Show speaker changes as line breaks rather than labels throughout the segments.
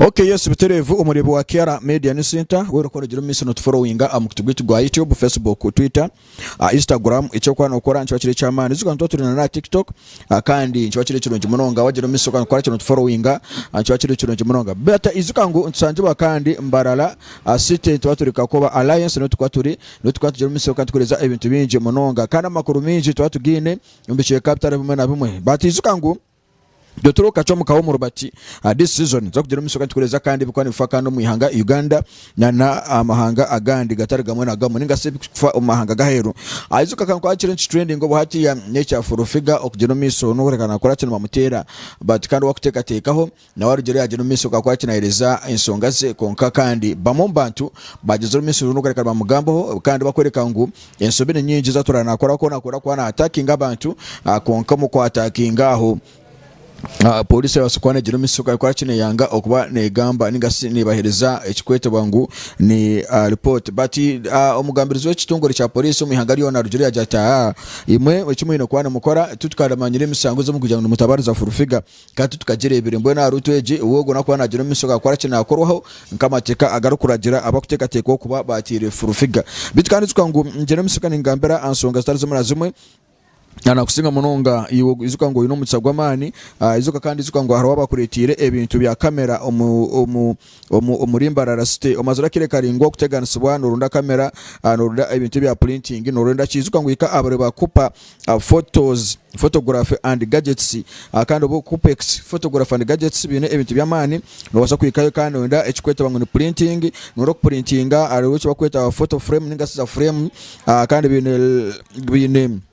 Okay yes buterevu omureebi wa KRA media ni Sinta weena oku oragira omu maisho notuforowinga aha mukutu gwaitu gwa YouTube, Facebook, Twitter. aha Instagram eki orikuba nookora nikiba kiri eky'amaani ahakuba nituba turi n'aha tiktok kandi nikiba kiri kirungi munonga waagira omumaisho okakora kiri notuforowinga nikiba kiri kirungi munonga bata ijuka ngu nitushangibwa kandi mbarara aha site nituba turi kakoba alliance niho turikuba turi niho turikuba turi omumaisho kandi tukuheereza ebintu bingi munonga kandi amakuru maingi tuba tugaine omu bicweka bitari bimwe na bimwe bata ijuka ngu Itwe turi okacwa muka wo murubati aha this season nituza kugira omumisho kandi tukureza kandi ebikuba nibifa kandi omu ihanga Uganda na na amahanga agandi gatari gamwe na gamwe ninga si ebikufa omu mahanga gaheru Aizuka kankwakire niki trending obu hatiya nekya full figure okugira omumisho nokureeka nakora ki nibamuteera but kandi owakutekatekaho nawe arugyere yagira omumisho gakora ki nahereza enshonga ze kwonka kandi bamwe omu bantu bagyezire omumisho nokureeka nibamugambaho kandi bakworeka ngu Ensobi ni nyingi z'atura nakora ku nakora kuba na atakinga abantu ah, kwonka omu kwatakinga aho ah, polisi erabaasa kuba negira omutsiko ahabw'okuba ki neyanga okuba negamba ninga shi nebahereza ekikwetebwa ngu ni ah, report but ah, omugambirizi w'ekitongore kya polisi omu ihanga ryona arugire yagira ati "Ah, imwe eki mwine kuba nimukora tutukaramanyire emisango ezi mukugira ngu nimutabariza full figure Ka titukagireebire. Mbwenu aha ruutu egi, ou ogwo nakuba naagira omu maisho gaakora ki? Naakorwaho nk'amateeka agarikuragira abarikuteekateeka okuba baataire furufiga. Beitu kandi ijuka ngu ngyine omu maisho ga ningambira aha nshonga zitari zimwe na zimwe, na nakusinga munonga iwe ijuka ngu oine omugisha gw'amaani. Ijuka kandi ijuka ngu hariho abakureeteire ebintu bya kamera omu omu omuri Mbarara City. Omaze orakire karaingwa okuteganisibwa norunda kamera, ah, norunda ebintu ebya printing, norwenda kiijuka ngu hika abari bakupa ah, photos, photography and gadgets. Ah, kandi obu okupa ex- photography and gadgets biine ebintu by'amaani, nobaasa kuhikayo kandi noyenda ekikwetaba ngu ni printing, noyenda okupurintinga hariho ekibakweta photo frame ninga shi za frame, ah, kandi biine biine.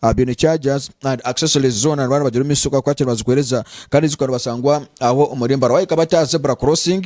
Aha byona chargers and accessories zoona nibaaba nibagira omu isho ku bakwatsire bazikuhereza kandi zikwika nibasangwa aho omuri Mbara. Waahika bati aha zebra crossing,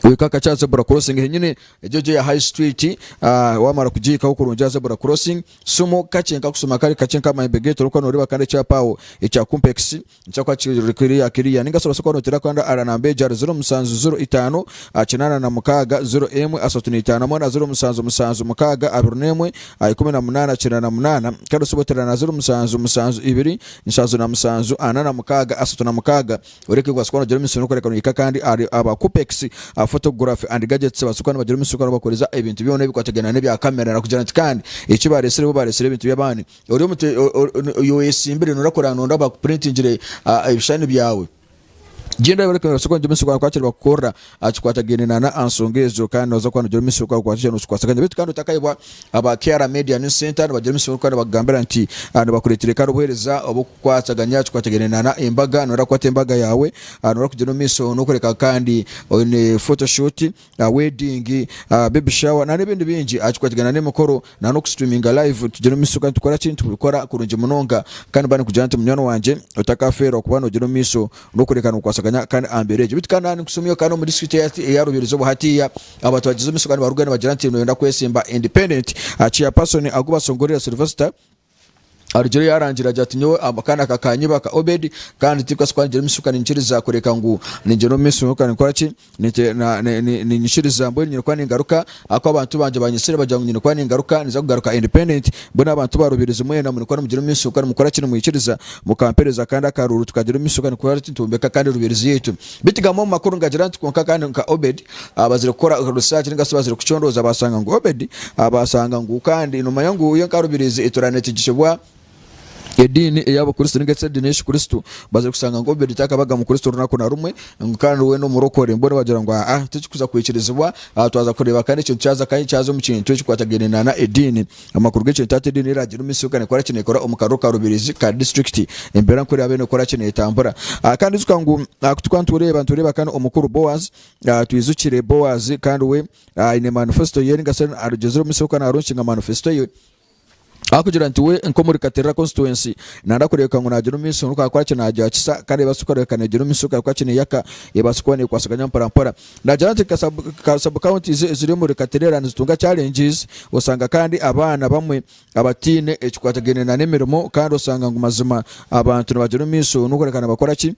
ohika kakye aha zebra crossing henyini egyo gye ya high street ah, waamara kugihikaho kurungi aha zebra crossing simu kakye nkakusuma kare kakye nk'aha mahembe g'ente orikuba nooreeba kandi ekyapa aho ekya Kumpex Nkyakwa kiri ruri kuriya kiriya. Ninga shi obaase kuba nooteera kukanda ara namba egi ahari ziro musanju ziro itaano kinaana na mukaaga ziro emwe asatu na itaano hamwe na ziro musanju musanju mukaaga abiri n'emwe ikumi na munaana kyenda na munaana. Kandi osobora oteera na ziro musanju musanju ibiri nshanju na musanju ana na mukaaga asatu na mukaaga. Oreeka obaase kuba noogira emisiri n'okureeka noyiha kandi ahari aba Kupex, aba Photography and Gadgets babaase kuba nibagira emisiri kandi bakuheereza ebintu byona ebikwatagaine n'ebya kamera kugira nti kandi eki baareetsire bo baareetsire ebintu by'abandi. ori omu te- o- o- o- oyi oyesimbire noyenda kureba nondi abakupurintingire ah, ebishushani byawe genda abareka nobaasa kuba nogira omumaisho gaawe kwakira bakukorera aha kikwatagaine na na aha nsonga ezo kandi nooza kuba nogira omumaisho gaawe kwakira nokikwasaganya baitu kandi otakayebwa aba KR Media News Center nibagira omumaisho gaawe kandi nibakugambira nti ah, nibakureetera kandi obuheereza obukukwataganya aha kikwatagaine na na embaga noyenda kukwata embaga yaawe ah, noyenda kugyenda omumaisho nokoreka kandi oine photoshoot aha wedding, aha baby shower nana ebindi bingi aha kikwatigana n'emikoro nana oku streaminga live tugira omu maisho kandi tukora ki nitubikora kurungi munonga kandi mba nikugira nti munywani wangye otakafeerwa kuba nogira omu maisho n'okureka nikukwasaganya kandi aha mbeera egyo beitu kandi nani nikushoma kandi omu district eyahati eya Rubiiri izooba hatiiya abantu bagize omu maisho kandi nibarugayo nibagira nti noyenda kwesimba independent chairperson Agubasongorera Sylvester Arugire yaarangira agira ati, Nyowe akaana aka kaanyebaka Obedi, kandi tinkakase kuba ningira omu maisho kandi ninkiriza kureka ngu ningira omu maisho kandi nkora ki? Nite- na- ni- ni- Ninyikiriza mbwenu nyine kuba ningaruka ahakuba abantu bangye baanyesire bagira ngu nyine kuba ningaruka ninza kugaruka independent mbwenu abantu baarubiirizi mwena murikuba nimugira omu maisho kandi mukora ki nimwikiriza mukampeereza akandi akaruuru tukagira omu maisho kandi nikora ki nitwombeka kandi rubiirizi yaitu. Beitu gamba omu makuru ngagira nti, Kwonka kandi nka Obedi, abazire kukora research ninga bazire kucondooza basanga ngu Obedi abasanga ngu kandi nomanya ngu iyo nka rubirizi etura nekigisibwa ediini ey'abakristo ninga ediini y'ekikristo bazire kusanga ngu Obedi takabaga mukristo runaku na rumwe ngu kandi we n'omurokore mbwenu bagira ngu aa tikikuza kwikirizibwa twaza kureeba kandi ekintu kyaza kyaza omu kintu ekikwatagaine na ediini Amakuru g'ekintu ati Ediini y'Eraagira Omumisiri K'aneekora ki neekora omu kariro ka rubirizi ka disiturikiti? Embeera nk'oku eraabe neekora ki neetambura? Kandi ijuka ngu twaba nitureeba nitureeba kane omukuru Boazi, twijukire Boazi kandi we aine manifesito ye ninga shi arugyezire omumisiri oku naaronki nka manifesito ye? Ahakugira nti we nk'omuri Katerera konsituwensi nanda kureebeka ngu naagira omu misiri, ngu akakora ki naagyakisa kandi ebaasa kureebeka neegira omu misiri, ekakora ki neeyaka, ebaasa kuba neekwasaganya mpora mpora. Naagira nti nka subcounties eziri omuri Katireera nizitunga challenges, osanga kandi abaana bamwe abataine ekikwatagaine na n'emirimo kandi osanga ngu mazima abantu nibagira omu maisho n'okureka nibakora ki?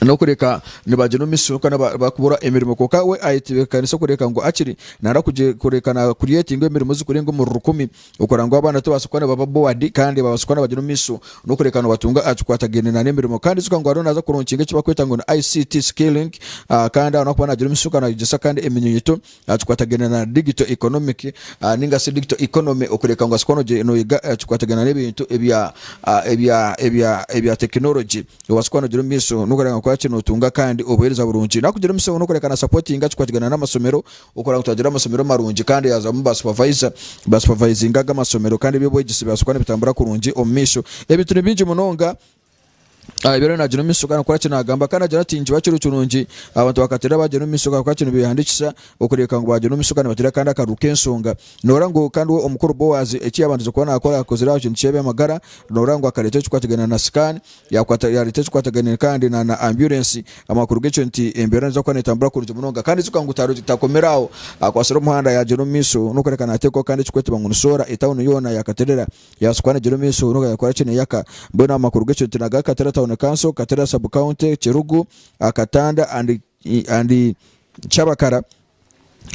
n'okureka nibagira omu maisho n'okureka bakubura emirimo kwonka we ayetebeekanisa kureka ngu akiri nana kureka na creatinga emirimo ezikurenga omuri rukumi Okora ngu abaana tubaase kuba nibaba bored kandi babaase kuba nibagira omumiisho n'okureka nibatunga aha kikwatagaine na n'emirimo. Kandi ijuka ngu ariyo naaza kuronkinga eki barikweta ngu ni ICT skilling kandi ariho naakuba naagira omumiisho kandi naayegyesa kandi eminyunyuto aha kikwatagaine na digital economic ninga shi digital economy okureka ngu obaase kuba nogi noyega aha kikwatagaine na n'ebintu ebya ebya ebya ebya technology obaase kuba nogira omumiisho n'okureka ngu okoraki nootunga kandi obuheereza burungi. Naakugira omumiisho n'okureka na supportinga ekikwatagaine n'amasomero Okora ngu twagire amasomero marungi kandi yaajwamu ba supavayiza basupavayizinga aga amasomero kandi eby'obwegyese byabaasa kuba nibitambura kurungi omu maisho. Ebintu ni bingi munonga ebi ariyo naagira omu maisho ahabw'okuba ki naagamba kandi naagira ati nikiba kiri kirungi abantu bakateera baagira omu maisho ahabw'okuba ki nibeehandiikisa okureebeka ngu baagira omu maisho kandi nibateera kandi akaruru k'enshonga. Noora ngu kandi we omukuru Boazi eki yaabandize kuba naakora akozire aha kintu ky'eby'amagara noora ngu akareeta ekikwatirwe na sikaani Yakwata yareeta ekikwataganire kandi na na ambulensi amakuru g'ekyo nti embeera neija kuba netambura kurungi munonga kandi ekyo ngu taru takomire aho akwatsire omuhanda yagyera omu maisho n'okworeka nateekwaho kandi ekikweetebwa ngu ni soora etauni yoona yakaterera yabaasa kuba negyera omu maisho n'oku yakora ki neyaka mbwenu amakuru g'ekyo nti naga Kateera town council Kateera sub county Kirugu Katanda and and Kyabakara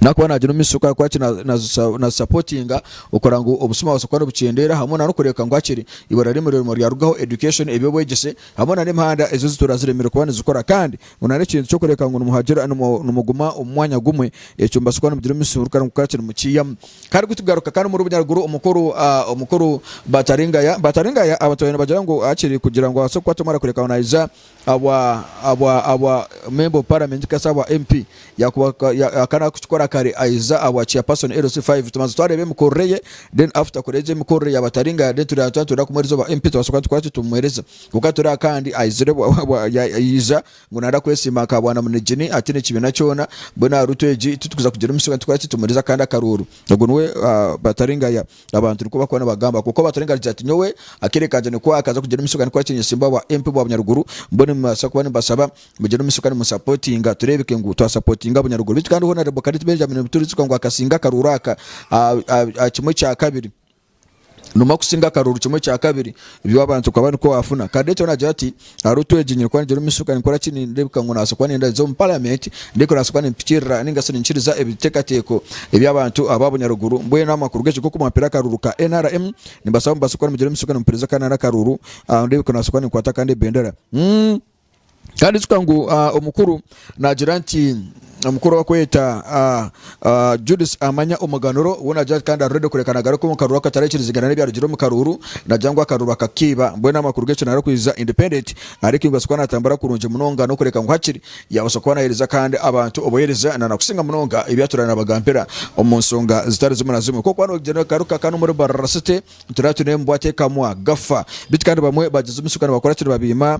nakuba nagira omu maisho kuba ki nazisapotinga okora ngu obusuma bubase kuba nibukyendeera hamwe nana okureebeka ngu hakiri eibara ry'omurimo ryona ryarugaho education eby'obwegyese hamwe nana emihanda ezi zituura ziremire kuba nizikora kandi ngu nana ekintu kyokureebeka ngu nimuhagira nimuguma omu mwanya gumwe ekyo nibasa kuba nimugira omusuruka ngu kuba ki nimukiihamu kandi kutugaruka kandi omuri obunyaruguru omukuru omukuru Bataringaya Bataringaya abatwaire nibagira ngu hakiri kugira ngu abase kukwata omwana kureebeka ngu naiza Aba aba aba member of parliament kasa aba MP yakuba ka- ya- akana kukikora kare aiza aba chairperson LC5 tubanza twareba emikorere ye then after kureba egyo emikorere yaba atari nga then tureba twaba nitwenda kumuhereza oba MP tubasoboka tukora tutyo tumuhereza kwonka turi aha kandi aizire bwa- bwa- bwa- ya- yaija ngu nayenda kwesiima nka bwana munegyini ataine ekibiina kyona mbwenu aha route egi titukuza kugira omushonga nitukora ki tumuhereza akandi akarooro ogwo niwe ah, batari nga ya Abantu nikwo bakuba nibagamba kwonka owatura engaro agira ati nyowe akeire kangye nikwo akaza kugira omuisho kandi kuhakinya simba wa MP bwa Bunyaruguru mbwenu nimubasa kuba nimubasaba mugire omuisho kandi musapotinga turebeke ngu twasapotinga Bunyaruguru beitu kandi Honarebo Karit Benjamin nibiturijuka ngu akasinga akaruuru aka aha kimwe kyakabiri nomwa kusinga akaruuru kimwe kyakabiri ebi abantu bakaba nikwo bafuna Karit we nagira ati. Hariho otwegi nyine kuba ningira omu maisho gaawe nkora ki nindeebeka ngu nabaasa kuba nenda nze omu paramenti ndeebeka nabaasa kuba nimpikirira ninga shi ninkiriza ebiteekateeko eby'abantu aba bunyaruguru mbwenu amakuru g'ekyo g'oku mwampire akaruuru ka NRM nimbasaba mubaase kuba nimugira omu maisho gaawe nimupuriza kandi nari akaruuru ah, ndeebeka nabaasa kuba ninkwata kandi ebendera Mm. kandi ijuka ngu ah, omukuru nagira nti mukuru bakweta Judith amanya omuganuro we nagira ati kandi ari ready kureka nagaruka omu karuru akatarakirizigana n'ebyarugire omu karuru nagira ngu akaruru bakakiiba mbwenu amakuru g'ekyo narikwiza independent ariko ibaasa kuba natambura kurungi munonga n'okureka ngu hakiri yabaasa kuba nahereza kandi abantu obuhereza nana kusinga munonga ebyaturaire nabagambira omu nsonga zitari zimu na zimwe kokuba nogira nogaruka kandi omuri barara city nituraire tune mbwa tekamwa gafa bitu kandi bamwe bagizimisa kandi bakora kiri babiima